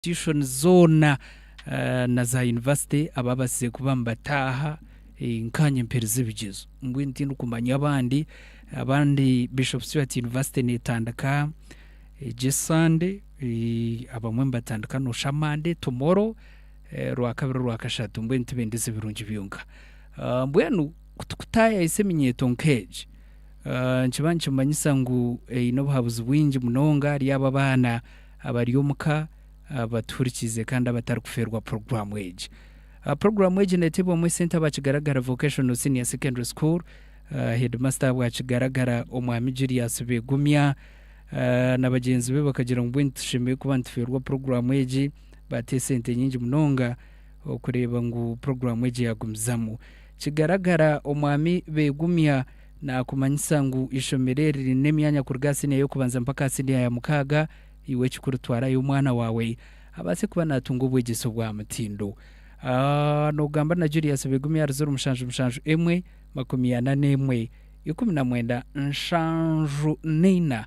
institutions zoona na za university ababaasize kuba nibataaha nkaanye mperize ebigyezo mbwenu tindikumanya abandi, abandi Bishop Stuart university netandika egi esande abamwe nibatandika nosha Monday, tomorrow, rwakabiri rwakashatu mbwenu tibendeze ebirungi byonka mbwenu kutukutaayayisa eminyeeto nkeegi nikiba nikimanyisa ngu eine obuhabuzi bwingi munonga ahari abo abaana. abari omu ka abatuhurikiize kandi abatarikufeerwa puroguraamu egi. Puroguraamu egi neeteebwamu esente aba Kigaragara Vocational Senior Secondary School, heedimasita ahabwa Kigaragara Omwami Julius Begumya na bagyenzi be bakagira ngu mbwenu tushemereire kuba nitufeerwa puroguraamu egi, baata esente nyingi munonga okureeba ngu puroguraamu egi yaagumizamu. Kigaragara Omwami Begumya Naakumanyisa ngu eishomero eri riine emyanya kuruga aha siniya y'okubanza mpaka aha siniya ya mukaaga. Iwe ekikuru twarayo omwana waawe abaase kuba naatunga obwegyese obwa mutindo. A Noogamba na Julius Begumi aha ruziro mushanju mushanju emwe, makumi ana n'emwe, ikumi na mwenda, nshanju na ina.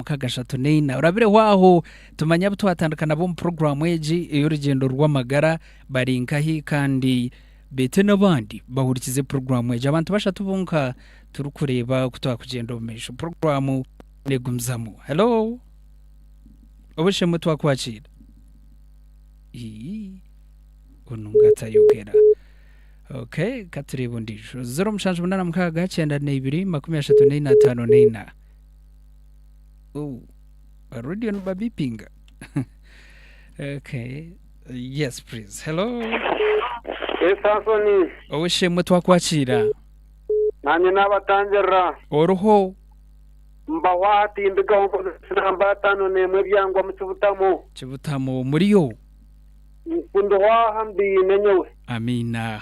mukaaga ashatu neina orabireho aho tumanye abu twatandika nabo omu puroguraamu egi ey'orugyendo rw'amagara bari nkahi kandi beete n'abandi bahurikize puroguraamu egi abantu bashatu bonka turikureeba ku twakugyenda omu maisho puroguraamu neegumizamu helo obushemwe twakwakiira onu ngatayogera ok katureeba ondiijo zero mushanju munana mukaaga kyenda neibiri makumi ashatu neina ataano neina Ooh, ba radio nibabipinga okay yes please hello esaasoni ow'eshemwe twakwakiira nanye nabatangirira oriho mbaho aha tindigaho nkozesa namba ataano n'emwe ebyangwa mu kibutamu kibutamu muriyo nkundiho aha mbiine nyowe amiina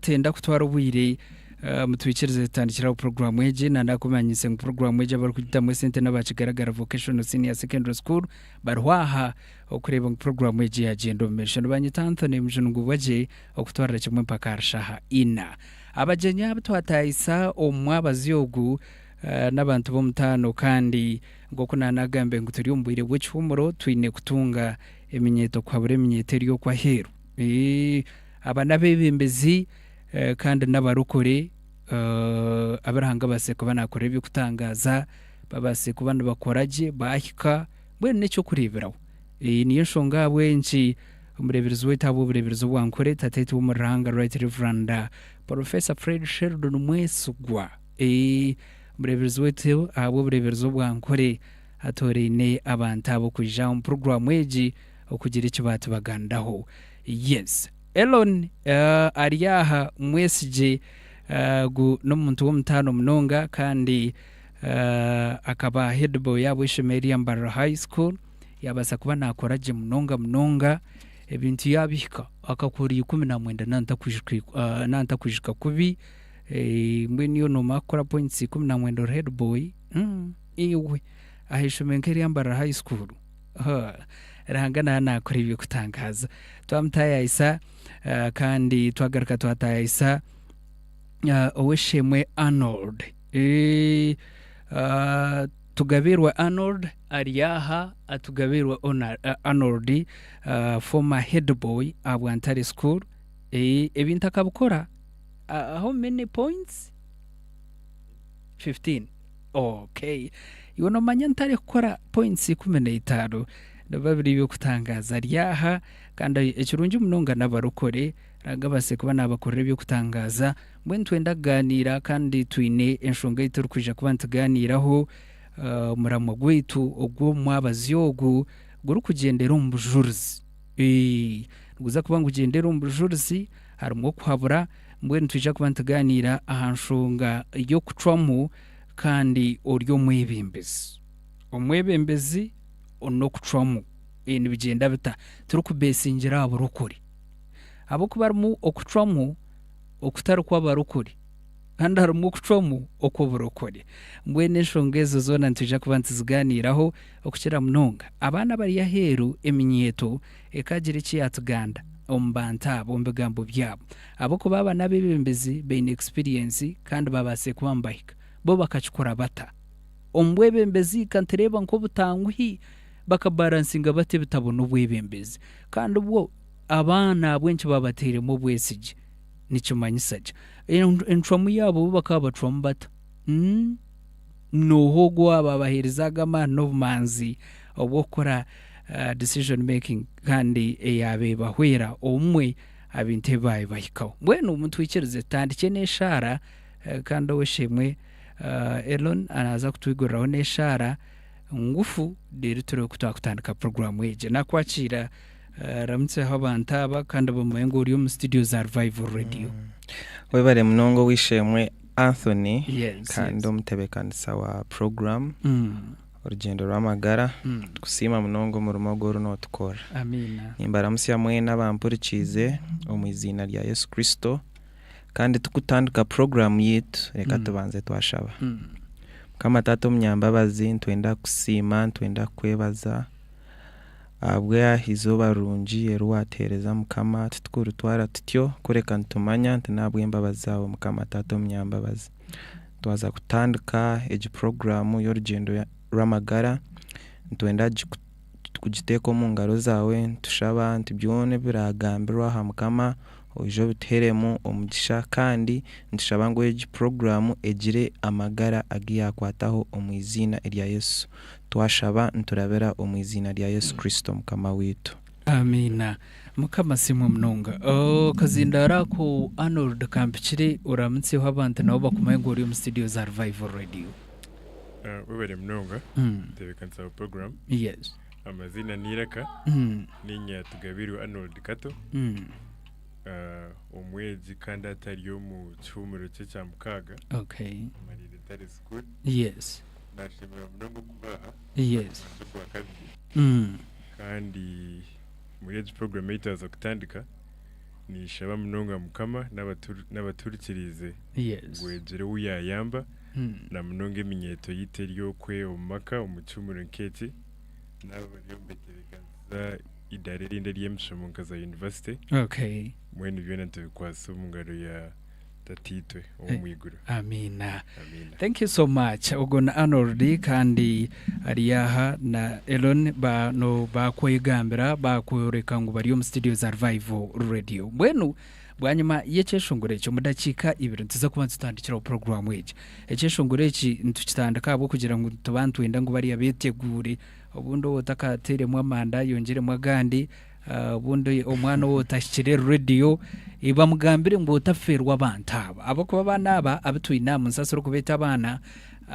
Tenda kutwara obwire mutwikirize tutandikire aho puroguramu egi nandakumanyise ngu puroguramu egi abarikugitamu esente n'aba kigaragara vocational senior secondary school bariho aha okureeba ngu puroguramu egi yagyenda omu maisho nibanyita anthony mujunungubwa gye okutwarira kimwe mpaka aha shaha ina abagyenyi abu twatayisa omu mwabazi ogu eh, n'abantu b'omutaano kandi nk'oku nanagambe ngu turi omu bwire bw'ekihumuro twine kutunga eminyeeto kuhabura eminyeeto eri okwo aheeru Eeh, aba n'abebembezi eh, kandi n'abarokore eh, abu Ruhanga abaase kuba nakorera eby'okutangaaza babaase kuba nibakora gye baahika mbwenu n'eky'okureeberaho. Eh, niyo nshonga ahabw'enki omureeberezi waitu ahabw'obureeberezi obu ankore Tateito w'omu Ruhanga Right Reverend Porofesa Fred Sheldon Mwesigwa eh, omureeberezi waitu ahabw'obureeberezi obu ankore atooraine abantu abo kwija omu puroguraamu egi okugira eki baatubaganiraho. Yes. Elon ari aha mwesigye gu n'omuntu w'omutaano munonga kandi akaba headboy yabo ishomero erya Mbarara High School. Yaabaasa kuba naakora gye munonga munonga ebintu yaabihika akakuura ikumi na mwenda nantakwijuka kubi. Mbwenu yoona omwe akukora points ikumi na mwenda ori headboy? Iwe! Aha ishomero nk'erya Mbarara High School? Ho, Ruhanga naaba naakora eby'okutangaaza. Twamutaayaayisa ah, kandi twagaruka twataayaayisa ah, Ow'esheemwe Arnold. Eh, ah, Tugabiirwe Arnold ari aha, ah, Tugabiirwe Ona- ah, Arnold, ah, former head boy aha Bwantare School. Eh, Ebintu akabikora ah, how many points? 15. Okay. Iwe nomanya ntari kukora points ikumi na itaano. Nibiba biri eby'okutangaaza ryaha? Kandi ekirungi munonga n'abarokore nanga abatsire kuba nabakorera eby'okutangaaza mbwenu nitwenda kugaaniira kandi twine enshonga ei turi kwija kuba nitugaaniiraho. Ah, omuramwa gwaitu ogw'omu mwabazi ogu guri kugyendera omu bujurizi. Eeh, niguza kuba nigugyendera omu bujurizi, harimu okuhabura, Mbwenu nitwija kuba nitugaaniira aha nshonga y'okucwamu kandi ori omwebembezi. Omwebembezi n'okucwamu nibigyenda bita? Turikubeesingira aha burokore. Ahabw'okuba harimu okucwamu okutari kw'abarokore kandi harimu okucwamu okw'oburokore. Mbwenu enshonga ezo zoona nitwija kuba nituzigaaniiraho, okukira munonga abaana abari aheeru eminyeeto Ekaagira eki yaatuganda omu bantu abo omu bigambo byabo. Ahabw'okuba aba n'abeebembezi baine ekisipiriyensi kandi baabaasize kuba nibahika. Bo bakakikora bata? Omu bwebembezi ka nitureeba nk'obutanguhi bakabaransinga bata ebitabona obwebembezi? Kandi bwo abaana ahabw'enki baabatairemu obwesigye? Nikimanyisa ki? Encwamu yaabo bo bakaba bacwamu bata? nooha ogu owaabaire abaheerizaaga amaani n'obumanzi obw'okukora decision making kandi eyaabaire ebahwera obumwe aha bintu ebi baabaire bahikaho. Mbwenu mutwikirize tutandikye n'eshaara eh, kandi ow'esheemwe eh, Elon naaza kutwiguriraho n'eshaara ngufu reero turebe ku twakutandika puroguraamu egi. Naakwakiira eh, ramutseho abantu aba kandi bamanye ngu ori omu situdiyo za Revival Radio. Webare munonga ow'eishe-emwe Anthony kandi omutebeekanisa wa puroguramu Orugyendo rw'Amagara, nitukusiima munonga omurimo ogu oriyo nootukorera. Nimbaramutsya mwena abampurikiize omu eiziina rya Yesu Kristo. Kandi turikutandika puroguramu yaitu, reka tubanze twashaba. Mukama Taata omunyambabazi, nitwenda kukusiima, nitwenda kukwebaza. Ahabw'aha eizooba rirungi eri waateereza Mukama, titukuritwara tutyo, kureka nitumanya nti n'ahabw'embabazi zaawe Mukama Taata Omunyambabazi. Twaza kutandika egi puroguraamu y'orugyendo rw'amagara, nitwenda kugiteeka omu ngaro zaawe, nitushaba nti byona ebiraagambirwe aha Mukama, Oije obituheremu omugisha kandi nitushaba ngu egi program egire amagara agu yakwataho omu iziina erya Yesu. Twashaba niturabira omu iziina rya Yesu Kristo Mukama waitu. Amiina. Mukama asiimwe munonga. Akazindaaro ako Arnold kampikire oramutsyeho abantu nabo bakumanye ngu ori omu studio za Revival Radio. Webare munonga kutebeekanisa aha program. Yes. Amazina n'eiraka ni Nyatugabirwa Arnold Kato, ah, omwegi kandi atari omu kihuumuro kye kya mukaaga, okay Mariri Tari School. yes Naashemererwa munonga okubaha yes omuringo gwa kabiri Mm. kandi muri egi puroguramu ei twaza kutandika niishaba munonga Mukama n'abatu- n'abatuhurikiriize yes ngu egire ou yaayamba Mm. na munonga eminyeeto yaitu eri okwe omu maka omu kihuumuro nk'eki naaba bariyo nibetebeekanisiza eidaara erindi ery'emishomo nka za yunivasite okay mbwenu byona nitubikwatsa omu ngaro ya tataitwe ow'omu iguru amiina amiina thank you so much ogwo ni arnold kandi ari aha na elon bano bakwegambira bakworeka ngu bari omu studio za revival radio mbwenu Bwanyima y'ekyeshongoro eki, omu dakiika ibiri nituza kuba nitutandikiraho puroguramu egi. Ekyeshongoro eki nitukitandika ahabw'okugira ngu nituba nitwenda ngu bariya beteguure. Obundi ou otakateiremu amanda ayongyeremu agandi, obundi omwana ou otahikire rediyo. Bamugambire ngu otafeerwa abantu aba. Ahabw'okuba abaana aba abu twine aha munsi as'ori kubeeta abaana,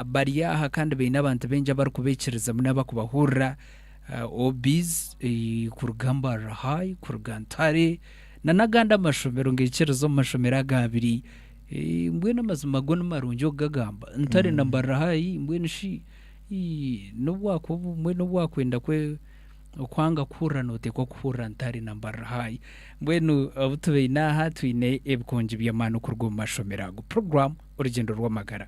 bari aha kandi baine abantu baingi abari kubeikirizamu n'abari kubahurira. OBs kuruga Mbarara High, kuruga Ntare, nanagandi amashomero ngekyereza omu mashomero aga abiri mbwenu amazima go nimarungi okugagamba ntari na mbarira hayi mbwenu shi nobwakuba obumwe nobwakwenda kwe okwanga kuhurira notekwa kuhurira ntari na mbarira hayi mbwenu obutubaine aha twine ebikongi byamaani okuruga omu mashomero ago program orugyendo rwamagara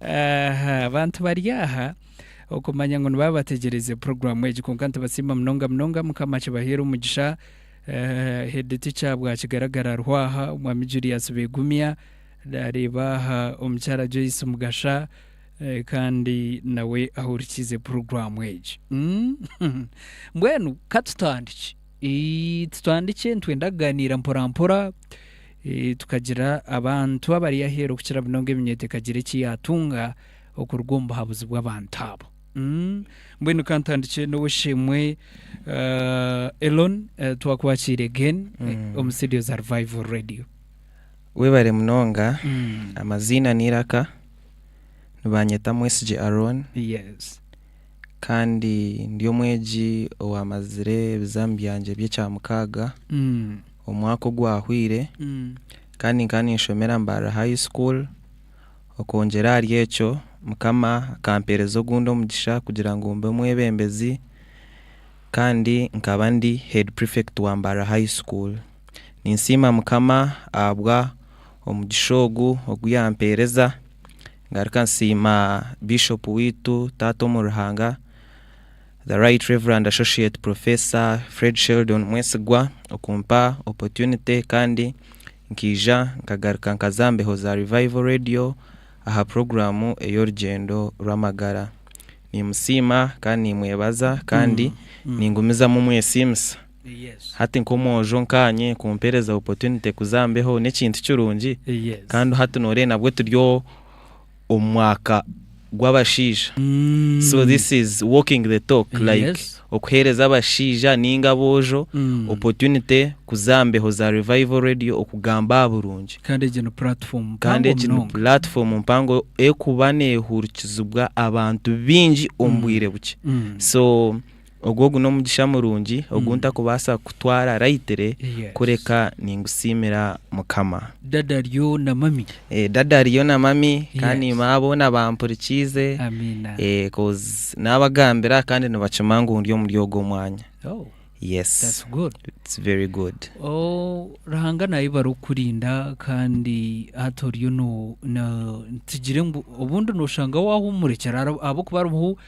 Aha bantu bari aha okumanya ngu nibaba bategyereze puroguramu egi kwonka nitubasiima munonga munonga mukama akibaheere omugisha. Head teacher bwakigaragara hariho aha omwami Julius Begumya nareeba aha omukyara Joyce Mugasha kandi nawe ahurikiize puroguramu egi. Mbwenu katutandikye. Titwandikye, nitwenda kugaaniira mporampora tukagira abantu abari aheeru kukira munonga eminyeeto ekagira eki yaatunga okuruga omu buhabuzi bw'abantu abo. Mbwenu ka ntandikye n'Ow'eishe-emwe Elon, twakwakiire again omu studio za Revival Radio. Webare munonga, amaziina n'eiraka nibanyeta Mwesigye Aaron. Yes. kandi ndi omwegi owaamazire ebizamu byangye by'ekyamukaaga omwaka ogwahweire kandi nkaba ninshomera Mbarara High School. Okwongyera ahari ekyo Mukama akampeereza ogundi omugisha kugira ngu mbe omwebembezi kandi nkaba ndi Head Prefect wa Mbarara High School. Ninsiima Mukama ahabw'omugisha ogu ogu yaampeereza Ngaruka nsiima Bishop waitu, Taata omu Ruhanga, The Right Reverend Associate Professor Fred Sheldon Mwesigwa okumpa opportunity kandi nkaija nkagaruka nkaza aha mbeho za Revival Radio aha program ey'orugyendo rw'amagara. Nimusiima kandi nimwebaza kandi ningumizamu mwesiimisa. Hati nkomwojo nkanye kumpereza opportunity kuza aha mbeho nekintu kirungi kandi hati noreba nabwe turi omu mwaka gwabashaija so this is walking the talk like okuhereza abashaija ninga abojo opportunity kuza aha mbeho za revival radio okugamba aha burungi kandi egi ni platform mpango ekuba nehurikizibwa abantu bingi omu bwire bukye so Ogwo ogu n'omugisha murungi ogu ntakubaasa kutwara rayitire kureka ningusiimira Mukama. Dada ariyo na mami. Dada ariyo na mami kandi mama boona bampurikiize coz naabagambira kandi nibakimanya ngu ndi omuri ogwo mwanya. Yes it's very good. Ruhanga naayebare okukurinda kandi hati oriyo no, tugire ngu obundi noshanga waahumurekera ahabw'okuba hariho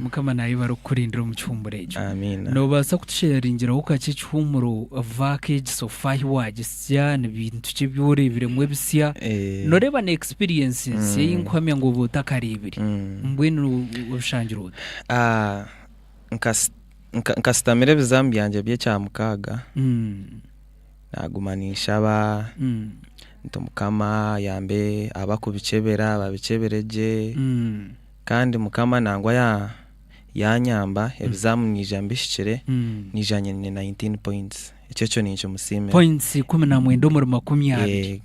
Mukama nayebare okukurindira omu kihuumuro ekyo. Nobaasa kutusheeringiraho kakye ekihuumuro vaaka egi so far ahi wagisya nibintu ki ebi oreebiremu ebisya noreeba na experience nsya ei nkuhamya ngu oba otakareebire mbwenu obishangire ota? Nkasitamire ebizamu byangye by'ekyamukaaga. naguma ninshaba nti mukama ayambe abakubikyebera babikyebere gye kandi mukama nangwa yanyamba ebizamu naija mbihikire naija nyine 19 points ekyekyo ninkimusimira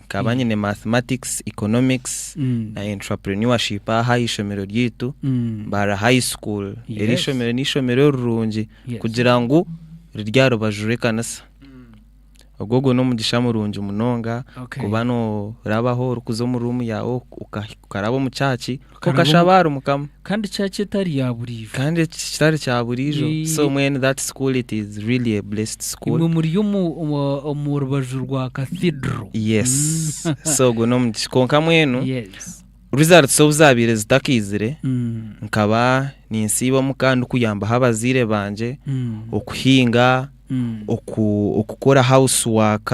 nkaba nyine mathematics, economics na entraprenuership aha aheishomero ryeitu Mbarara high school eri eishomero neishomero rirungi kugira ngu riri aharubaju rwekanisa. Ogwo ogwo n'omugisha murungi munonga Okay. kuba norabaho orikuza omu room yaawe ok- oka- okaraba omu church Okaraba okashaba omu- ahari mukama kandi kyaki etari ya buriijo kandi eki kitari kya buriijo Ii. so mwenu that school it is really a blessed imwe school muri omu omu- omu rubaju rwa cathedral yes Mm. so ogwo n'omugisha kwonka mwenu Yes. Results obu zaabaire zitakaizire, nkaba ninsiiba omuka ndikuyambaho abazaire bangye okuhinga, okukora house work,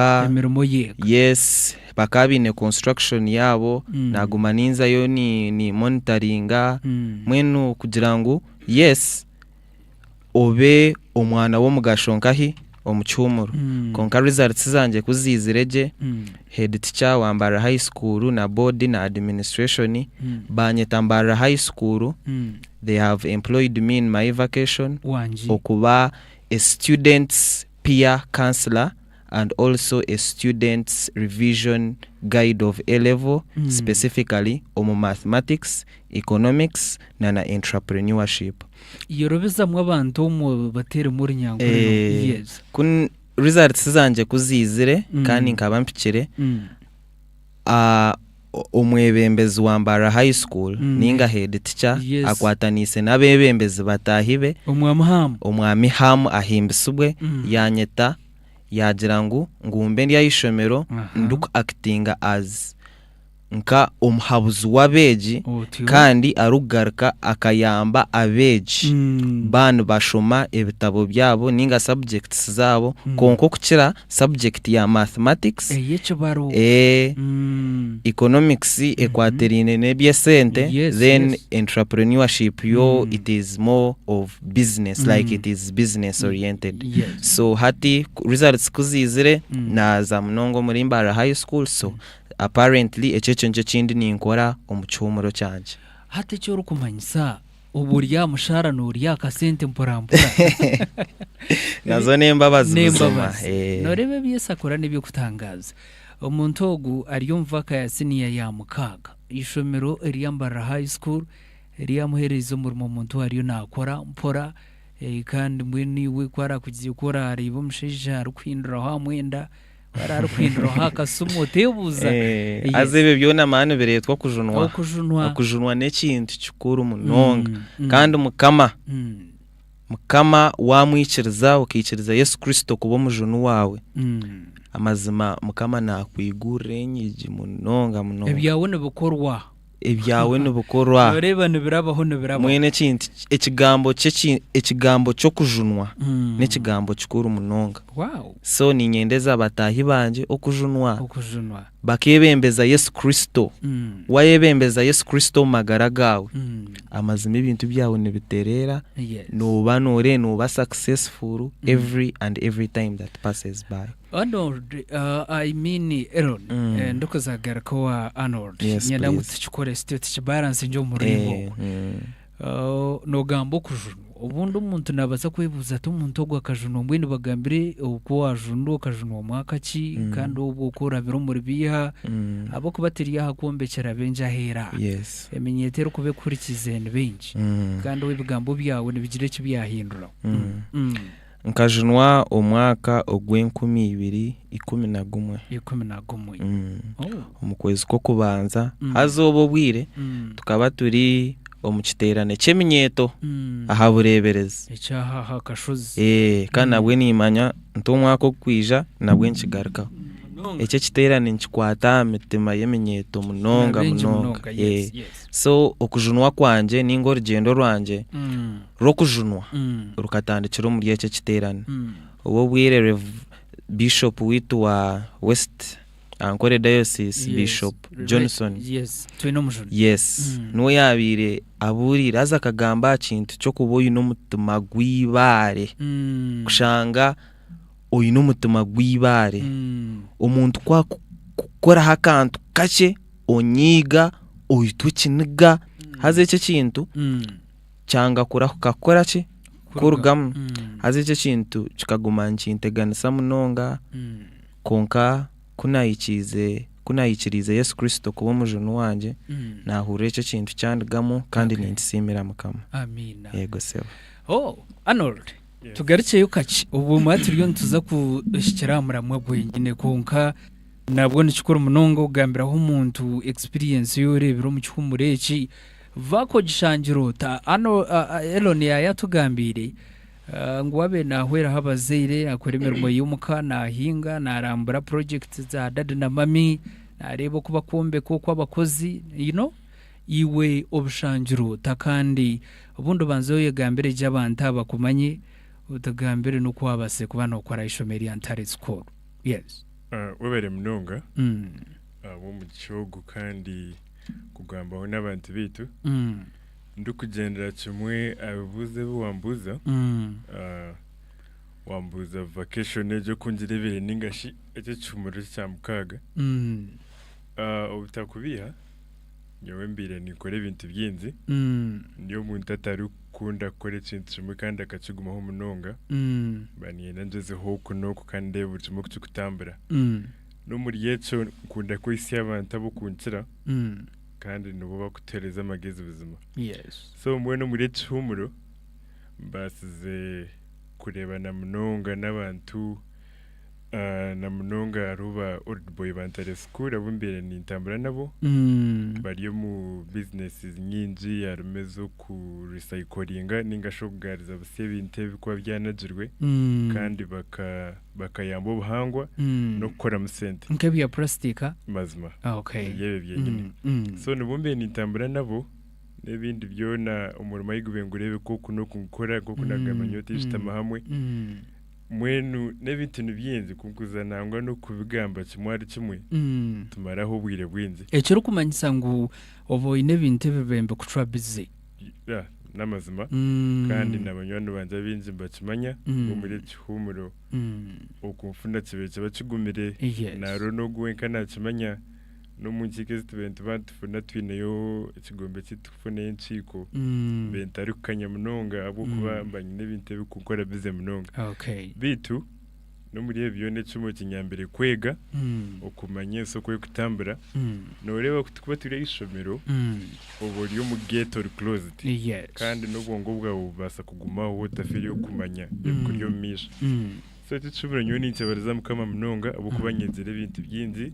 yes bakaba baine construction yaabo naguma ninzayo ni monitoringa mbwenu kugira ngu yes. obe omwana w'omugasho nkahi omu kihumuro mm. konka results zangye ku ziizire gye mm. head teacher wa mbarara high school na board na administration mm. banyeta mbarara high school mm. they have employed me in my vacation Wangi. okuba a students peer counsellor and also a student's revision guide of A-level specifically omu mathematics, economics na na entrepreneurship. Yorobezamu abantu omwo bateeremu orunyankore no Eeh, yes. ku results zangye ku ziizire kandi nkaba mpikire, A Omwebembezi wa Mbarara High School ninga Head Teacher akwataniise n'abebembezi bataahi be, Omwami Ham Ahimbisibwe yanyeta yaagira ngu ngumbe ndi aha ishomero ndi ku actinga as nka omuhabuzi w'abeegi kandi arikugaruka akayamba abeegi baa nibashoma ebitabo byabo ninga subjects zaabo kwonka okukira subject ya mathematics, Ey'ekibaro. eh, Mm. economics ekwatiraine n'eby'esente, Yes, then yes. entrepreneurship yo Mm. it is more of business like Mm. it is business oriented. Yes. So hati ku- results ku ziizire Mm. naaza munonga omuri Mbaara High School so apparently ekyo ekyo nikyo ekindi ninkora omu kihuumuro kyangye. Hati eki orikumanyisa Obu ori aha mushaara noorya akasente mporampora. Nazo n'embabazi buzima. N'embabazi. Eh. Nooreeba ebi Yesu akora n'eby'okutangaaza. Omuntu ogu ari omu vaaka ya siniya ya mukaaga. Eishomero erya Mbarara High School ryamuheereize omurimo omuntu ou ariyo naakora mpora. Eh, Kandi mbwenu iwe ku araakugiire ku oraareeba omushaija arikuhinduraho aha mwenda, Hariho arikuhinduraho akasimu oteebuuza. Eh, Yes. haza ebyo byona mani nibireetwa okujunwa Okujunwa. okujunwa n'ekintu kikuru munonga Mm, mm. kandi mukama Mm, mukama wamwikiriza okaikiriza yesu kristo kuba omujuni waawe mm. amazima mukama nakwigurira enyigi munonga munonga Ebyawe nibikorwa. Ebyawe nibikorwa. Nooreeba nibirabaho nibirabaho. Mbwenu ekintu ekigambo kye eki- ekigambo ky'okujunwa Mm. n'ekigambo kikuru munonga. Wow, So niinyendeza bataahi bangye okujunwa okujunwa. bakeebembeza Yesu Kristo. Mm, Waayebembeza Yesu Kristo omu magara gaawe, mm, amazima ebintu byawe nibitereera, yes. nooba noore nooba successful every and every time that passes by. Arnold uh, I mean Elon mm. eh, ndikuza garuka wa Arnold yes, nyenda ngu tukikore sityo tukibalance nje omuringo eh, ogwo mm. uh, nogamba okujunwa obundi omuntu nabaza kwebuuza ati omuntu ogwo akajunwa mbwenu bagambire oku wajunwa okajunwa omwaka ki mm. kandi obwo oku orabire omuri biiha mm. ahabw'okuba tiri aha kwombekyera bengi aheera yes. eminyeeto erikuba ekuhurikiize ni bingi mm. kandi obu ebigambo byawe nibigira eki byahinduraho mm. mm. mm. Nkajunwa omwaka ogw'enkumi ibiri ikumi na gumwe. Ikumi na gumwe. Mm. Oh. Omu kwezi kw'okubanza Mm. haza obwo obwire Mm. tukaba turi omu kiteerane ky'eminyeeto Mm. aha bureeberezi. Ekyaha aha kashozi. Eh, kandi Mm. nabwe niimanya nti omwaka ogukwija nabwe nikigarukaho. Munonga. Eki ekiteerane nikikwata aha mitima y'eminyeeto munonga Bingi munonga. munonga. Eh. Yes, yes. So okujunwa kwangye ninga orugyendo rwangye Mm. rw'okujunwa rukatandikira omuri ekyo ekiteerane. Obwo obwire Rev. Bishop waitu wa West Ankole Diocese, Bishop Johnson, yes, niwe yaabaire abuurire haza akagamba aha kintu ky'okuba oine omutima gw'eibaare. Kushanga oine omutima gw'eibaare. Omuntu ku akukoraho akantu kakye, onyiiga, oitwa ekiniga. Haza ekyo ekintu. kyanga kurahuka kukora ki kurugamu haza ekyo ekintu kikaguma nikinteganisa munonga kwonka kunahikiriize yesu kristo kuba omujuni wangye nahurira ekyo ekintu kyandigamu kandi ninkisiimira mukama yego sebo oh, Arnold tugarukyeyo kakye obumwe turiyo nituza kuhikira aha muramwa gwenyine kwonka nabwo nikikuru munonga okugambiraho omuntu experience yoreebire omu kihumure eki Vaako ogishangira ota. Hanu Elon yaayo atugambiire ngu abe naahweraho abazaire, akora emirimo y'omuka, naahinga, naarambura projects za daddy na mummy, naareeba oku bakwombeka oku abakozi, you know. Iwe obishangira ota kandi obundi obanze oyegambire gye abantu abo bakumanye, otugambire n'oku waabaasire kuba nookora aha ishomo erya Ntare School. Yes. Webare munonga ahabw'omugisha ogu kandi. kugambaho n'abantu baitu Mm. ndikugyendera kimwe aha bibuuzo ebi wambuuza Mm. Ah, wambuuza vacation egyo oku ngireebire ninga shi eky'ekihumuro kya mukaaga Mm. Ah, obutakubiiha nyowe mbaire ninkora ebintu bingi Mm. ndi omuntu atarikukunda kukora ekintu kimwe kandi akakigumaho munonga Mm. mba niinyenda ngyezeho oku n'oku kandi ndeebe buri kimwe oku kirikutambura Mm. N'omuri ekyo nkunda kwehitsya abantu ab'okunkira kandi nibo barikutuheereza amagezi buzima. So mbwenu omuri eki kihuumuro mbaasize kureebana munonga n'abantu na munonga hariho ba Old Boy ba Ntare School abu mbaire nintambura nabo. Bari omu bizineesi nyingi harimu ez'okurisayikoringa ninga shi okugaariza butsya ebintu ebirikuba byanagirwe kandi baka bakayamba obuhangwa Mm. n'okukoramu sente nk'ebya purasitika mazima Ah, okay. ebyebyo byenyini Mm, mm. so nibo mbiire nintambura nabo n'ebindi byona omurimo ahi gube ngureebe nk'oku n'oku ngukora nk'oku Mm, nagamba nyowe tibishutama mm, hamwe mm, mbwenu n'ebintu nibyingi kunkuza nangwa n'okubigamba kimwe ahari kimwe mm. tumaraho obwire bwingi ekirikumanyisa ngu oba oine ebintu ebi bibembe kucwa bizi Ya, n'amazima. Kandi na banywani bangye abaingi nibakimanya Mm. ngu omuri eki kihuumuro Mm. oku nfuna kibaire kiba kigumire. Yes. Naroho n'ogwo wenka naakimanya. N'omu nkiiko ezi tubaire nituba nitufuna twineyo ekigombe eki tukufunayo enkiiko, Mm. mbaire ntarikukanya munonga ahabw'okuba Mm. mba nyine ebintu ebirikunkora bize munonga. Okay. Beitu. n'omuri ebi byona ekimwe kinyambire kwega okumanya ensi oku erikutambura nooreeba ku tikuba turi aheishomero oba ori omu gate ori closed kandi n'obwongo bwaawe bubaasa kugumaho otafiire okumanya ebikuri omu maisho so tikikibura nyowe ninkyebareza mukama munonga ahabw'okuba nyegire ebintu bingi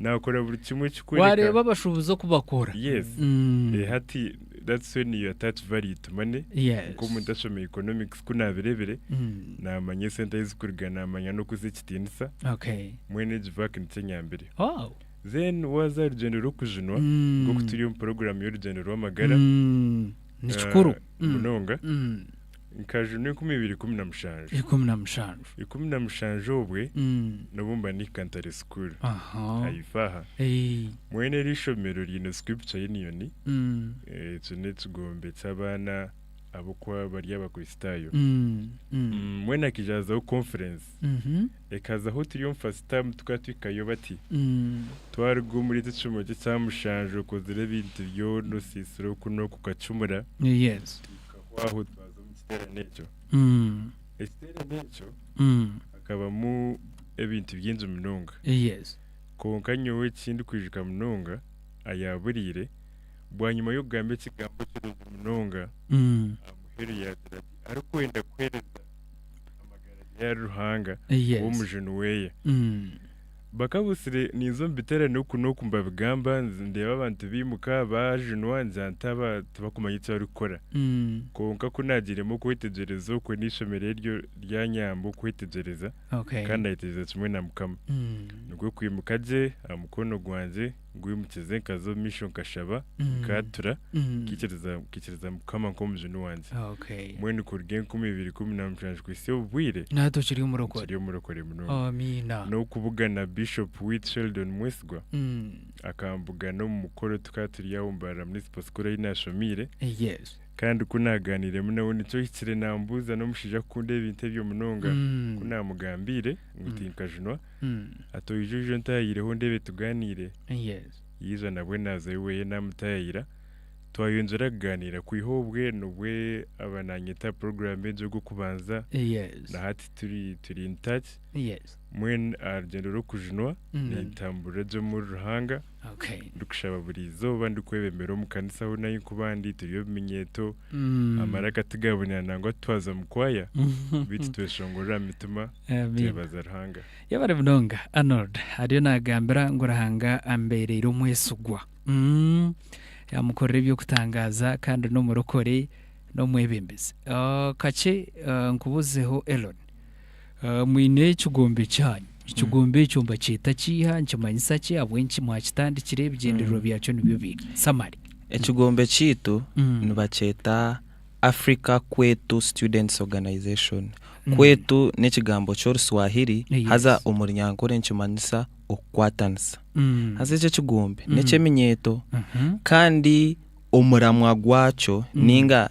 nakora buri kimwe ekikworeka. Wareeba abashubuzi oku bakora. Yes. Mm. Eh, hati that's when you attach value to money. Yes. Nk'omuntu ashoma economics ku nabirebire Mm. namanya esente ahi zikuruga namanya n'okuzi ekitiinisa Okay. mwene egi vac nikyo enyambire. Wow. Then waza aharugyendo rw'okujunwa Mm. nk'oku turi omu program y'orugyendo rw'amagara Mm. Ni kikuru. eh, Mm. munonga. Mm. Nkajunwa enkumi ibiri ikumi na mushanju. Ikumi na mushanju. Ikumi na mushanju obwe n'obu mba nihika ntare sukuru. Haifa aha. Mwene eri ishomero riine Scripture Union. Ekyo n'ekigombe ky'abaana ab'oku bari Abakristaayo. Mbwenu hakaija hazaho conference. Ekazaho turi omu first term tukaba tuhikayo bati, Twaruga omuri eki ekishumo kye ekya mushanju okozire ebintu byona, osiisire oku n'oku okacumura. Ahabw'okuhwaho twaza omu kiteerane ekyo. Ekiteerane ekyo hakabamu ebintu bingi munonga. Kwonka nyowe eki ndikwijuka munonga ayaaburiire, bwanyima y'okugamba ekigambo kirungi munonga, aha muheru yaagira ati, Arikwenda kuheereza amagara ge ahari Ruhanga, we omujuni we. Bakabutsire ninza omu biterane oku n'oku nibabigamba nindeeba abantu baimuka baajunwa njanta tibakumanya eki barikukora kwonka ku naagiremu okwetegyereza okwe n'eishomero eryo ryanyamba okwetegyereza kandi nayetegyereza kimwe na Mukama nikwo kwimuka gye aha mukono gwangye Nkwimukize nkaza omu maisho nkashaba Mm. nkaatura Mm. nkaikiriza nkaikiriza Mukama nk'Omujuuni wangye. Okay. Mbwenu kuruga enkumi ibiri ikumi na mushanju kuhitsya obu bwire Nawe tokiri omurokore. nkiri omurokore munonga. Amiina. N'okubugana Bishop Witt Sheldon Mwesigwa Mm. akambugana omu mukoro tukaba turi aho Mbarara Municipal School ahi naashomiire Yes. kandi ku naagaaniiremu nawe nikyo ohikire naambuuza n'omushaija akukunda ebintu ebyo munonga. Mm. Ku naamugambiire ngu Mm. tinkajunwa Hati oija oije ontaahireho ndeebe tugaaniire. Yaija nabwe naaza oweye naamutaayaira. Twayongyera kugaaniira kwiha obwe nobwe aba naanyeta aha puroguraamu egyo ogw'okubanza. Na hati turi turi in touch. Mbwenu aha rugyendo rw'okujunwa nintamburira gye omuri Ruhanga. Ndikushaba buri izooba ndikwebembera omu kanisa ahu nari nkuba ndi, turi obuminyeeto, amaraka tigabonera nangwa titwaza mu kwaya, beitu tweshongorera aha mitima, twebaza Ruhanga. Yebare munonga Arnold ariyo nagambira ngu Ruhanga ambereire omwesigwa, yamukorera eby'okutangaaza kandi n'omurokore n'omwebembezi. Kakye nkubuzeho Elon. Mwine ekigombe kyanyu. Ekigombe ekyo mbakyeta kiiha? Nikimanyisa ki? Ahabw'enki mwakitandikire? Ebigyendererwa byakyo nibyo biiha? Summary. Ekigombe kyaitu nibakyeta Africa Kwetu Students Organization. Kwetu n'ekigambo ky'oruswahiri haza omu runyankore nikimanyisa okukwatanisa. Haza eki ekigombe n'eky'eminyeeto kandi omuramwa gwakyo ninga.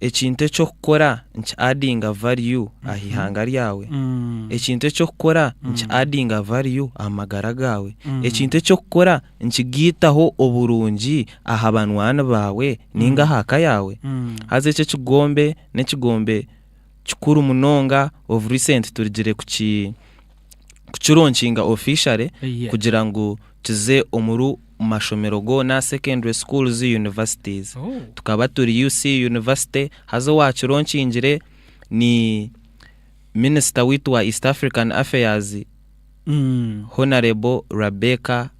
Ekintu eky'okukora niki addinga value aha ihanga ryawe? Ekintu eky'okukora niki addinga value aha magara gaawe? Ekintu eky'okukora nikigaitaho oburungi aha banwaani baawe nainga aha ka yaawe? Haza eki ekigombe n'ekigombe kikuru munonga of recent turigire kuki kukironkinga officially Yeah. kugira ngu kize omuri mashomero goona secondary schools universities Oh. tukaba turi UC university haza owakironkingire ni minister waitu wa East African affairs Mm. honorable Rebecca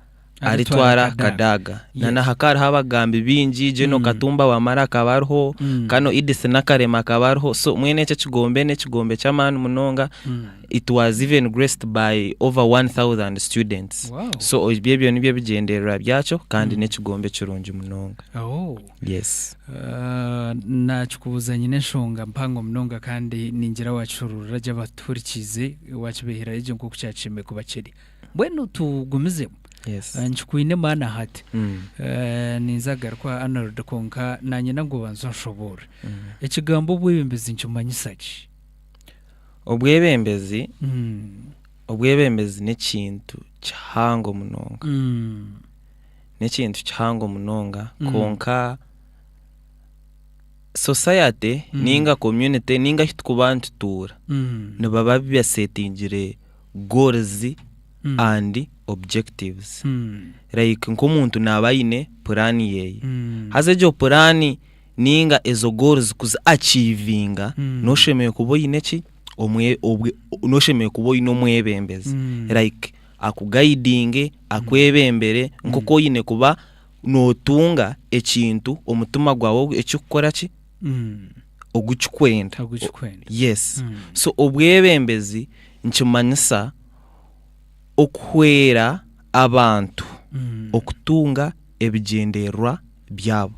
aritwara Kadaga na na haka hariho abagambi bingi General mm. Katumba Wamara akaba ariho mm. Kano Idis Nakarema akaba ariho so mwene ekyo ekigombe n'ekigombe ky'amaani munonga mm. it was even graced by over 1000 students wow. so ebyo ebyo nibyo ebigyendererwa byakyo kandi mm. n'ekigombe kirungi munonga oh. yes uh, nakikubuuza nyine enshonga mpango munonga kandi ningira wakihururira gye abaturikiize wakibeherayo gye nk'oku kyakishemeye kuba kiri mbwenu tugumizeho Yes. Eh, nkikwine maana hati Mm. Eh, ninza garuka arnold kwonka nanyina ngu obanze onshoboorre Mm. ekigambo obwebembezi nikimanyisa ki obwebembezi Mm, obwebembezi n'ekintu kihango munonga mm, n'ekintu kihango munonga Mm. kwonka society Mm. ninga community ninga ahu tukuba nitutuura mm, nibaba basetingire goals and objectives like nk'omuntu naaba aine puraani yeeye haza egyo puraani ninga ezo goals kuzi achievinga noshemereire kuba oine ki omwe- obwe- noshemereire kuba oine omwebembezi like akugaidinge akwebembere nk'oku oine kuba notunga ekintu omutima gwaawe ekikukora ki ogu kikwenda ogu kikwenda yes mm. so obwebembezi nikimanyisa okuhwera abantu mm. okutunga ebigyendererwa byabo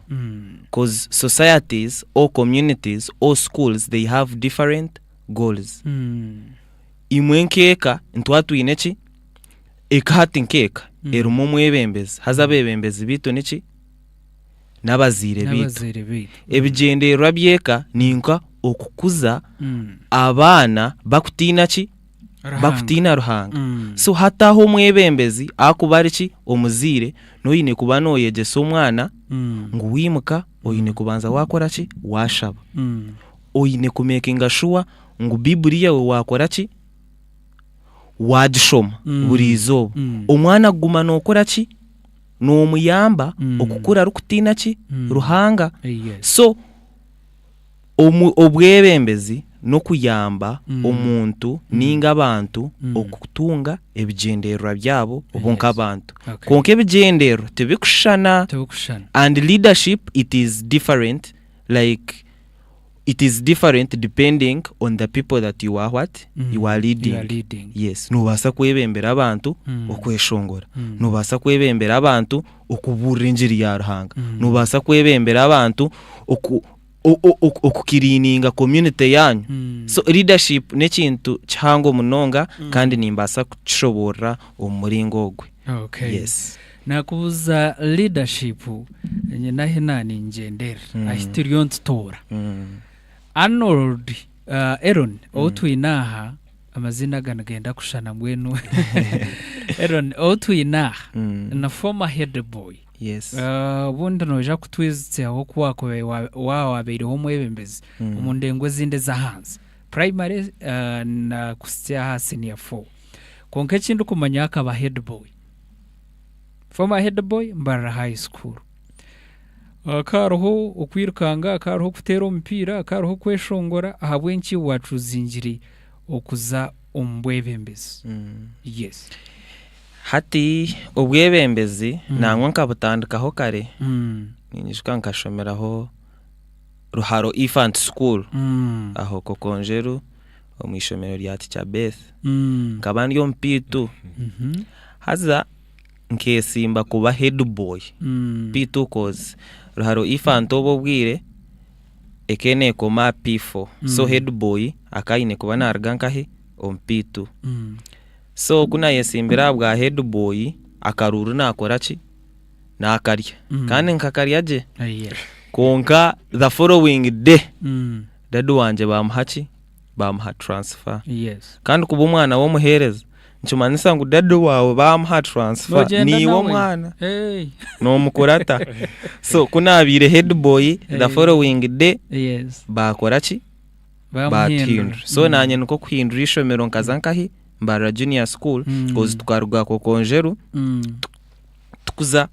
because mm. societies or communities or schools they have different goals mm. imwe nkeka ntwa twine eki eka hati nkeka mm. erimu omwebembezi haza mm. abebembezi bitu niki n'abazaire baitu. Ebigyendererwa by'eka ni nka okukuza mm. abaana bakutiina ki bakutiina ruhanga mm. so hataho omwebembezi akuba ari ki omuzaire noyine kuba noyegyesa omwana mm. ngu wimuka oyine kubanza wakora ki washaba oyine kumekinga shuwa ngu bibuli yawe wakora ki wagishoma buri izooba omwana kuguma nokora ki nomuyamba okukura arikutiina ki Ruhanga so obwebembezi nokuyamba omuntu ninga abantu okutunga ebigyendererwa byabo bo nkabantu kwonka ebigyendererwa tibikushushana and leadership it is different like it is different depending on the people that you are what Mm. you are leading, You are leading. yes nobaasa kwebembera abantu Mm. okweshongora Mm. nobaasa kwebembera abantu okubuurira enjiri ya ruhanga Mm. nobaasa kwebembera abantu oku- o- o- oku- okukiriininga community yaanyu Mm. so leadership n'ekintu kihango munonga kandi nimbaasa kukishoboorora omu muringo ogwe Okay. yes Nakubuza leadership nyine ahi naningyender ahi turi ontutoora Arnold Eron ou twine aha amazina aga nigenda kushana mbwenu Eron ou twine aha na former head boy obundi noija kutwijutsyaho oku waaba wabeireho omwebembezi omu ndengo ezindi ezahansi primary na kuhitsya aha senior four kwonka eki ndikumanya akaba head boy. former head boy mbarara high school hakaba hariho okwirukanga hakaba hariho okuteera omupiira hakaba hariho okweshongora ahabw'enki waacuzingire okuza omu bwebembezi Mm. yes Hati obwebembezi Mm. nangwa nkabutandikaho kare Mm, ninyijuka nkashomeraho Ruharo Infant School mm, aho Kokonjeru omu ishomero rya tica beth mm. nkaba ndi omupiitu mhm. haza nkesimba kuba headboy mm. piitu cause ruharo ifanta obwo obwire ekenekoma pifo mm. so headboy akaine kuba naruga nkahe omupiitu mm. so kunayesimbire aha bwa headboy akaruuru nakora ki nakarya mm. kandi nkakarya gye oh, yeah. konka the following day mm. Dady wangye bamuha ki? Bamuha transfer. Yes. Kandi kuba omwana w'omuheereza nikimanyisa ngu dady waawe bamuha transfer Nogyenda niiwe nawe. omwana Hey. nomukurata. So ku naabaire headboy Eh. the following day Yes. baakora ki? Bamuhindura. baatuhindura so Mm. naanye nikwo kuhindura eishomero nkaza nkahi mbarara junior school Mm. coz tukaruga kokonjeru Mm. tukuza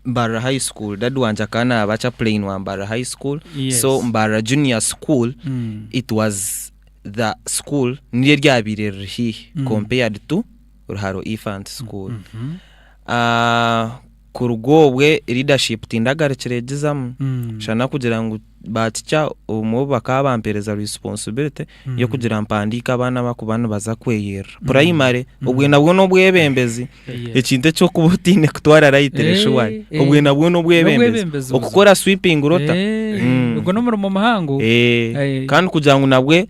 mbarira high school dad wangye akaba naaba chaplain wa mbarira high school yes. so mbarira junior school mm. it was the school niryo ryabaire riri hiihi mm. compared to ruharo infant school mm -hmm. uh, kuruga obwe leadership tindagarukiregizamu mm. shana kugira ngu baatikya obumwe obu bakaba bampereza responsibility mm. y'okugira mpandiika abaana abakuba nibaza kweyerera mm. primary mm. obwe nabwo n'obwebembezi ekintu eky'okuba otiine kutwara rayiti reshuwani eh, eh. obwe nabwo n'obwebembezi okukora sweeping rota eh, mm. ogwo n'omurimo muhango kandi kugira ngu nabwe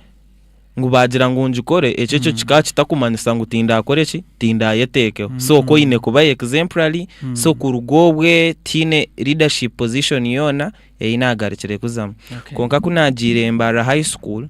ngu baagira ngu ngikore ekyo ekyo mm. kikaba kitakumanyisa ngu tindakore eki tindayeteekeho mm. so ko oine kuba exemplary mm. so kuruga obwe tiine leadership position yoona ei naagarukire kuzamu kwonka ku naagiire Mbarara High School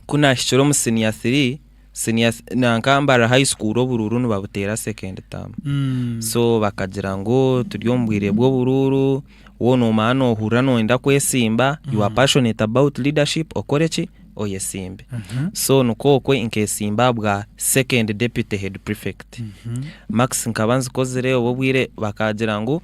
ku naahikire omu siniya three siniya nanka Mbarara High School oburuuru nibabuteera second term mm. so bakagira ngu turi omu bwire bw'oburuuru wo noomanya noohurira nooyenda kwesimba mm. you are passionate about leadership okore eki oyesimbe mm -hmm. so nikookwe nkesimba bwa second deputy head prefect mm -hmm. max nkaba nzikozire obw'obwire bakagira ngu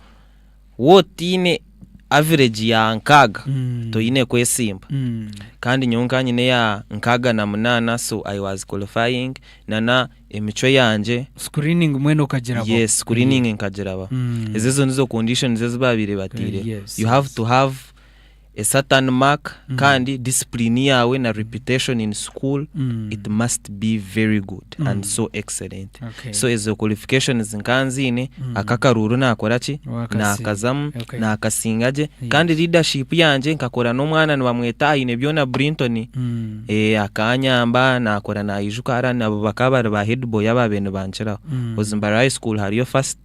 Waaba otaine averegi ya nkaaga, Mm. toine kwesimba. Mm. Kandi nyowe nkaba nyine eya nkaaga na munaana so I was qualifying nana emicwe yangye Screening mbwenu okagirabwaho. yes screening nkagiraba. Mm. Ezo ezo nizo conditions ezi baabaire bateireho. Yes, You have yes. to have A certain mark kandi discipline yaawe na reputation in school it must be very good and so excellent Okay. so ezo qualifications nkaba nziine ako akaruuru nakora ki Wakasiima. nakazamu Okay. nakasinga gye kandi leadership yangye nkakora n'omwana nibamweta aine byona Brinton Mm. eh, akanyamba nakora nayijuka ara nabo bakaba bari ba head boy abaabaire nibankiraho Ozimbare high school hariyo first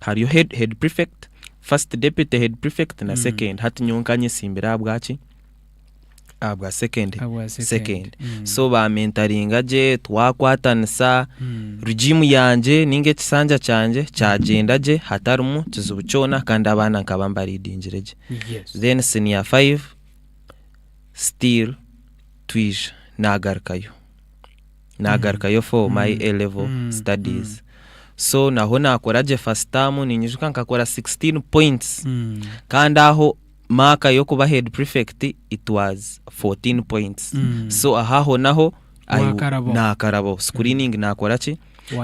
hariyo head, head prefect first deputy head prefect na Mm. second hati nyowe nkanyesimbire aha bwaki aha bwa second Abwa second. second Mm. so bamentaringa gye twakwatanisa Mm. rugiimu yangye ninga ekisanja kyangye kyagyenda gye hatarimu kizibu kyona kandi abaana nkaba mbaridingire gye Yes. then senior 5 still twija nagarukayo nagarukayo for mm. my A level mm. studies mm. so naho nakora gye first term ninyijuka nkakora 16 points mm. kandi aho maaka y'okuba head prefect it was 14 points mm. so ahaho naho nakarabo screening mm. nakora ki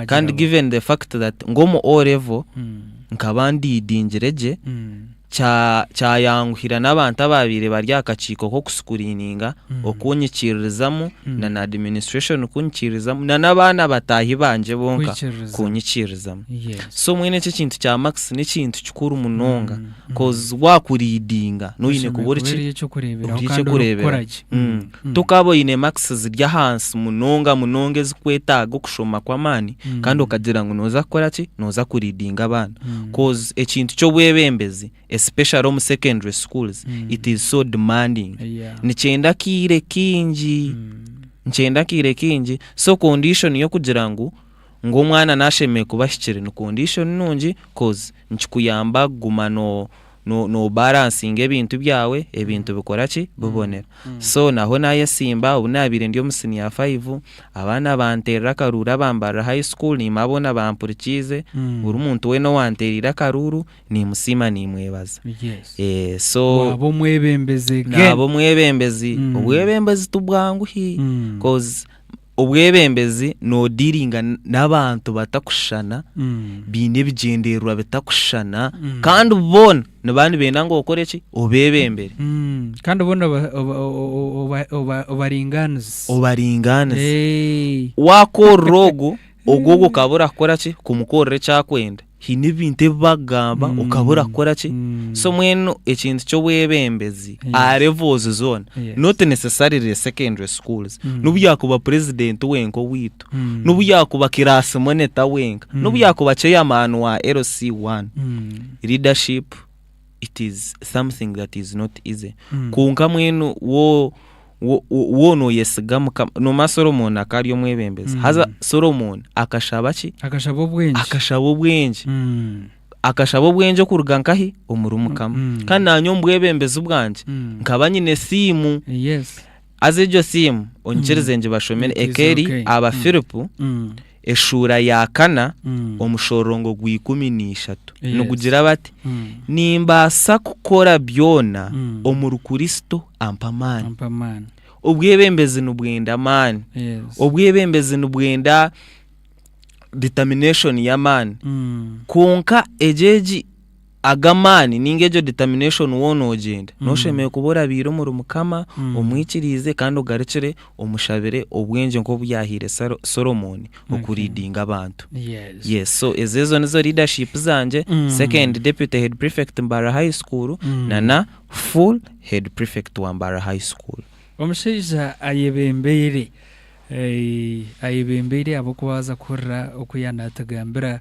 kandi given the fact that ngomu o level mm. nkaba ndidingire gye mm. Kya, kyayanguhira n'abantu abaabaire bari aha kakiiko k'okusikuriininga, Mm. okunyikiririzamu, Mm. na na administration kunyikiririzamu, na n'abaana bataahi bangye bonka Kwikiririza. kunyikiririzamu. Yes. So mbwenu eki ekintu kya Max n'ekintu kikuru munonga Mm, mm. cause waakuriidinga n'oine Oine kuba ori ki? kubeerayo eky'okureeberaho Ori kandi eky'okureeberaho. orikukora gye. Mm. Tokaba oine makisi ziri ahansi munonga munonga ezikwetaaga okushoma kw'amaani kandi okagira ngu noza kukora ki? Noza kuridinga abaana coz ekintu ky'obwebembezi especially omu secondary schools it is so demanding nikyenda akaire kaingi nikyenda akaire kaingi so condition y'okugira ngu ngu omwana nashemererwa kuba ahikire ni condition nungi coz nikikuyamba kuguma no no no balansinga ebintu byawe ebintu bikora ki bibonera so naho nayesimba obu nabaire ndi omu senior five abaana banterera akaruuru abambarira high school niimanya boona bampurikiize buri muntu weena owantereire akaruuru nimusiima nimwebaza so waaba omwebembezi again naaba omwebembezi obwebembezi tibwangu hii coz Obwebembezi nodiringa n'abantu batakushushana baine ebigyendererwa bitakushushana kandi boona niba nibenda ngu okore ki obebembere kandi boona oba- oba- oba- oba- obaringaanize obaringaanize wakorera ogu ogu ogu okaba orakora ki kumukorera ekyakwenda haine ebintu ebi bakugamba mm. okaba orakora ki mm. so mwenu ekintu ky'obwebembezi a levels zoona not necessarily secondary schools mm. nobu yakuba president wenka owaitu nobu yakuba kirasi moneta wenka nobu yakuba chairman wa lc1 leadership it is something that is not easy Mm. kwonka mwenu wo wo- wo- wo noyesiga mukama nomanya solomoni akari omwebembezi Mm. haza solomoni akashaba ki akashaba obwengye akashaba obwengye Mm. akashaba obwengye okuruga nkahi omuri mukama Mm. kandi nanye omu bwebembezi bwangye Mm. nkaba nyine esiimu yes Haza egyo siimu onyikirize ngibashomere. Eka eri aba Firipu, eshuura ya kana, omushorongo gwa ikumi na ishatu. Nigugira bati, Nimbaasa kukora byoona omuri Kuristo ampa amaani. Obwebembezi nibwenda amaani. Obwebembezi nibwenda determination y'amaani. Kwonka egyo egi. Ago amaani ninga egyo determination woona noogyenda, noshemererwa kuba orabaire omuri Mukama, omwikiriize kandi ogarukire omushabire obwengye nk'obu yaahaire Solomooni oku leadinga abantu. Yes, so ezo ezo nizo leadership zangye, second deputy head prefect Mbarara high school na na full head prefect wa Mbarara high school. Omushaija ayebembeire, ayebembeire ahabw'okuba waaza kuhurira oku yaanatugambira.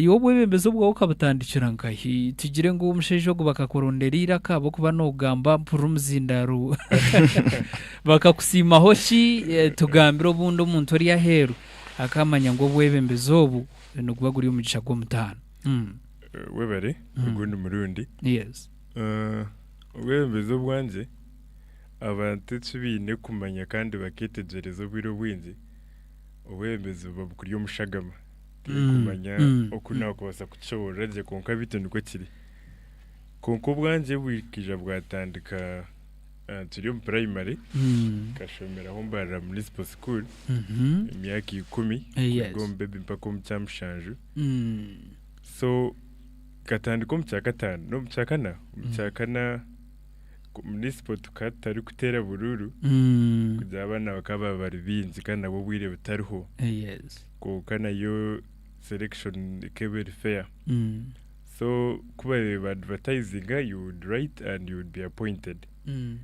Iwe obwebembezi obwawe okabutandikira nkahi? Tugire ngu omushaija ogu bakakurondera eiraka ahabw'okuba noogamba mpurira omuzindaaro. Bakakusiimaho ki? Eh, Tugambire obundi omuntu ori aheeru akaamanya ngu obwebembezi obu niguba guri omugisha gw'omutaano. Mm, Eh, Webare, Mm. ogundi murundi. Yes. Eh, Obwebembezi obwangye, abantu eki baine kumanya kandi bakeetegyereza obwire obwingi, obwebembezi buba bukuri omu shagama. Turikumanya oku naakubaasa kukishoboorora gye, kwonka beitu nikwo kiri. Kwonka obwangye bwikaija bwatandika turi omu purayimari, nkashomera ahu mbarira munisipo sukuuru emyaka ikumi, kuruga omu bebi mpaka omu kyamushanju. So nkatandika omu kyakataano, n'omu kyakana, omu kyakana munisipo tukaba tutarikuteera buruuru kugira abaana bakaba bari baingi kandi nabwo obwire butariho. kwonka nayo selection ekaba eri fair Mm. so kuba ba advertisinga you would write and you would be appointed Mm.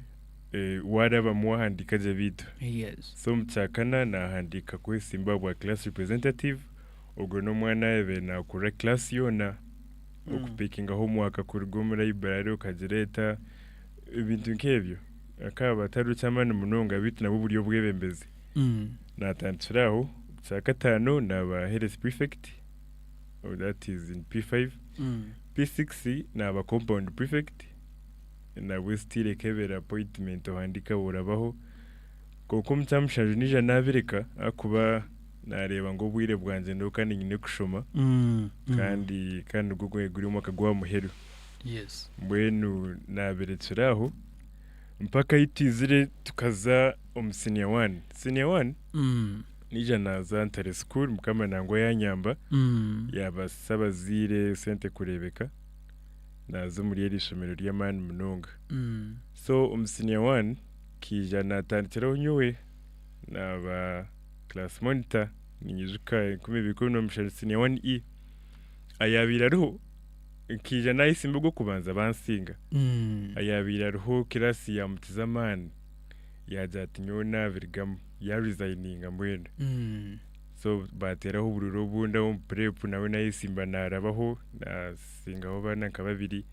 Eh, waarabamu wahandiika gye baitu Yes. so omu kyakana nahandiika kwesimba bwa class representative ogwo n'omwana yaabaire nakurira class yoona Mm. okupikingaho omwaka kuruga omu library okagireeta ebintu nk'ebyo akaba batari eky'amaani munonga baitu nabwo buri obwebembezi Naatandikira aho kya kataano naaba health prefect that is in P5. P6 naaba compound prefect nabwe still ekebeera appointment ohandiika bworabaho kwonka omu kya mushanju naija naabireka ahakuba naareeba ngu obwire bwangye nyowe kandi nyine kushoma kandi kandi nigwo guri omwaka gwa muheru mbwenu naabirekira aho. Mpaka ahi twizire tukaza omu siniya wani. Siniya wani naija naaza ntare sukuuru mukama nangwa yaanyamba yaabaasisa abazaire sente kureebeka naaza omuri eryo ishomero ry'amaani munonga. So omu siniya wani nkaija naatandikiraho nyowe naaba kiraasi monita, niinyijuka enkumi ibiri ikumi n'omushanu siniya wani E ayaabaire ariho nkaija naayesimba ogw'okubanza bansinga. Ayaabaire ariho kiraasi yaamukiza amaani yaagira ati nyowe naabirigamu yaarizayininga mbwenu. So baateeraho oburuuru obundi aho omu pureepu nawe naayesimba naarabaho naasingaho abaana nka babiri.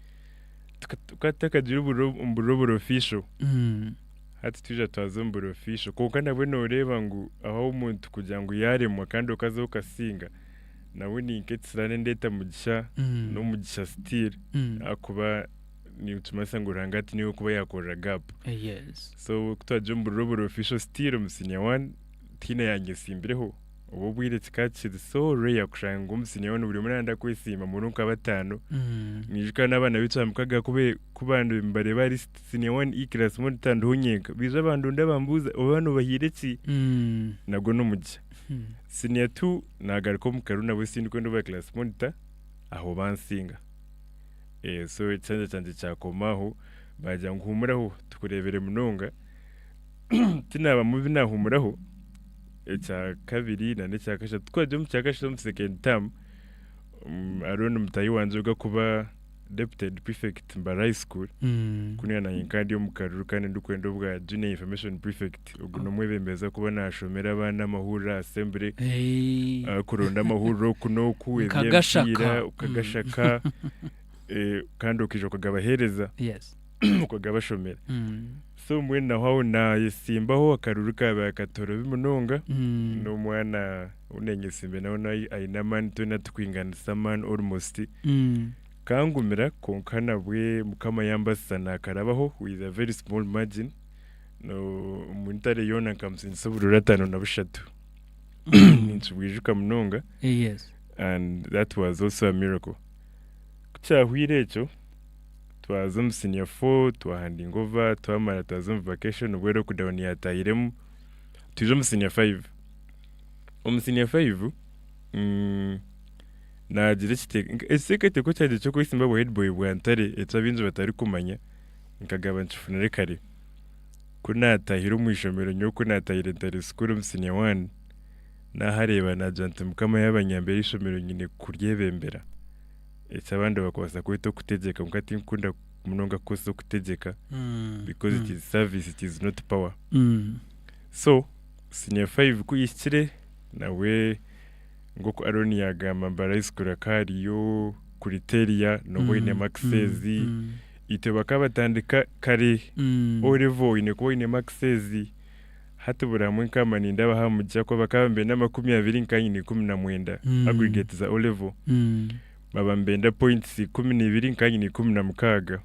Tuka- Tukaba tutakagira oburuuru obu- omu buruuru oburi official. Hati twija twaza omu buri official kwonka nabwe nooreeba ngu ahu omuntu kugira ngu yaaremwa kandi okaza okasinga. Nabwe ni nk'ekisiraani ndeeta mugisha Mm. n'omugisha still Mm. ahakuba nikimanyisa ngu Ruhanga ati niwe kuba yakorera gap Eh, Yes. so kutwagye omu buriro buri official still omu senior one tihaine yangye esimbireho obw'obwire kikaba kiri so rare kushanga ngu omu senior one buri omwe nayenda kwesimba muri nka bataano Mm. niijuka n'abaana b'eicwa mukaga kube kuba ndi- mbareeba ahari st- senior one E class monitor ndiho nyenka baija bandonda bambuuza oba noobahiire ki Mm. nagwo n'omugisha Senior two nagaruka omu karu nabwe sindikwenda oba class monitor aho bansinga. So ekishanja kyangye kyakoma aho bagira ngu humuraho tukurebere munonga. Tinabamu binahumuraho ekya kabiri na n'ekya kashatu. Twagya omu kya kashatu omu second term hariho ni mutahi wangye ogakuba deputed prefect mbara high school Mm. kunu naanye nkaba ndi omu karuru kandi ndikwenda obwa junior information prefect ogu n'omwebembezi akuba naashomera abaana amahurire aha assembly Eh, ah, kuronda amahurire oku n'oku Nkagashaka. eby'emipiira okagashaka eh, kandi okaija okagabaheereza yes. oku gaba ashomire so mbwenu naho aho nayesimbaho akaruru kaba akatorobi munonga n'omwana ou nenyesimbe nawe nayi- aine amaani twena tukwinganisa amaani almost kangumira kwonka nabwe mukama yambasisa nakarabaho with a very small margin no omu ntare yoona nkamusinyisa oburoori ataano na bushatu ninkibwijuka munonga and that was also a miracle ku kyahweire ekyo twaza omu senior four twahandinga over twamara twaza omu vacation nibwo lockdown yatahiremu twija omu senior five. Omu senior five naagira ekiteeka ekiteekateeko kyangye ky'okwesimba obwa headboy bwa ntare eki abaingi batarikumanya nkagamba nkifunire kare. Ku naatahire omu ishomero nyowe ku naatahire ntare school omu senior one, naahareeba naagira nti Mukama yaaba anyambire eishomero nyine kuryebembera. eki abandi bakubaasa kweta okutegyeka kwonka tinkukunda munonga kukoresa okutegyeka Mm. because it Mm. is service it is not power Mm. so senior five ku yahikire nawe nk'oku Aron yaagamba mbu arayesikuura ku hariyo kuriteria nooba oinemu access Mm. itwe bakaba batandika kare Mm. o level oine kuba oinemu access Hati buri hamwe nkaba nindaaba aha mugisha ku abakaba nibenda amakumi abiri nkanyine ikumi na mwenda aggregate za O-Level, baba nibenda points ikumi na ibiri nkanyine ikumi na mukaaga.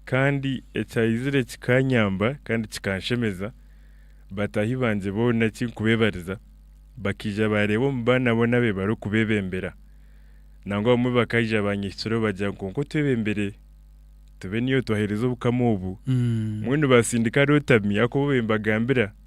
Kandi ekyayizire kikanyamba kandi kikanshemeza, bataahi bangye boona tinkubebariza, bakaija baareeba omu baana boona abe barikubebembera. Nangwa abamwe bakaija baanyehikiraho bagira ngu kwonka otwebembire. Tube niyo twahereza obukama obu. Mbwenu baasindika Rotami, Yakobo bembagambira.